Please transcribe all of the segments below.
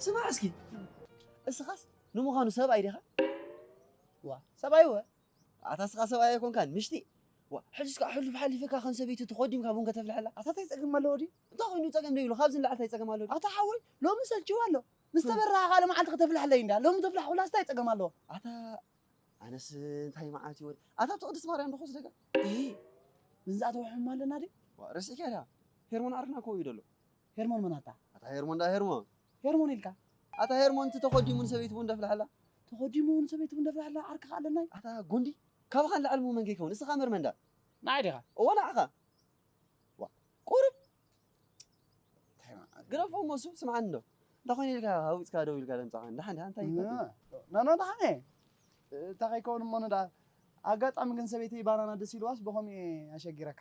ስማዕ እስኪ እስኻስ ንምዃኑ ሰብኣይ ዲኻ ዋ ሰብኣይ ወ ኣታ እስኻ ሰብኣይ ኣይኮንካን ምሽቲ ዋ ሕጅስ ከዓ ሕሉፍ ሓሊፍካ ከም ሰበይቲ ተኾዲምካ ቡን ከተፍልሐላ ኣታ እንታይ ፀገም ኣለዎ ድዩ እንታይ ኮይኑ ፀገም ደይብሉ ካብዚ ንላዕሊ እንታይ ፀገም ኣለዎ ኣታ ሓወይ ሎሚ ሰልችዋ ኣሎ ምስ ተበራሃኻ ልመዓልቲ ከተፍልሐለይ እንዳ ሎሚ ተፍልሐኹላ እንታይ ፀገም ኣለዎ ኣታ ኣነስ እንታይ መዓልቲ ወዲ ኣታ ኣብቲ ቅድስቲ ማርያም ዶ ክወስደካ እ ምንዛእተወ ሕማ ኣለና ድዩ ዋ ረሲዕካ ድያ ሄርሞን ኣርና ከው እዩ ደሎ ሄርሞን መን ኣታ? ኣታ ሄርሞን ደኣ ሄርሞን። ሄርሞን ኢልካ? ኣታ ሄርሞን እቲ ተኾዲሙ ንሰበይቱ ቡን ደፍልሓላ። ተኾዲሙ ንሰበይቱ ቡን ደፍልሓላ ዓርኪ ከኣ ኣለናይ። ኣታ ጉንዲ ካባኻ ንላዕሊ እሞ መን ከይከውን እስኻ መርመን ደኣ። ንዓይ ዲኻ? እወ ንዓኻ። ዋእ ቁሩብ ታይ መዓት። ግረፎ እሞ እሱ ስምዓኒ እንዶ እንታይ ኮይነ ኢልካ ሃዊፅካ ደው ኢልካ ደምፅኻ ንድሓን ድሓን እንታይ እዩ ፋቲሙ? ኖ ኖ ድሓን እየ እታ ከይከውን እሞ ንድኣ። ኣጋጣሚ ግን ሰበይተይ ባናና ደስ ኢልዋስ ብኸምኡ እየ ኣሸጊረካ።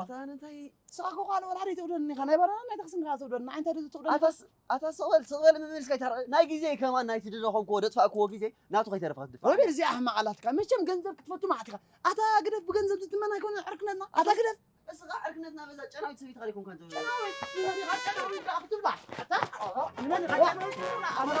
ኣታ እንታይ ስራሕኩ ኳ ንወላ ደይ ትውደድኒ ካ ናይ ባራና ናይ ተክስን ካ ትውደድኒ ኣይ እንታይ ደይ ትውደድኒ ኣታ ኣታ ስቕበል ስቕበል ምምልስ ከይታ ናይ ግዜ ከማ ናይ ትድረኾን ኮ ደጥፋእኩዎ ግዜ ናቱ ከይተረፈ ክትድፋ ወይበር እዚ ኣሕማቕ ኣላትካ መቸም ገንዘብ ክትፈቱ ማዓት ኢኻ ኣታ ግደፍ ብገንዘብ ዝትመን ኣይኮነ ዕርክነትና ኣታ ግደፍ እስኻ ዕርክነትና በዛ ጨናዊት ሰበይቲ ኸሪኩም ከንዘ ጨናዊት ንመኒኻ ጨናዊት ዳኣ ክትብላ ኣታ ንመኒኻ ጨናዊት ክትብላ ኣታ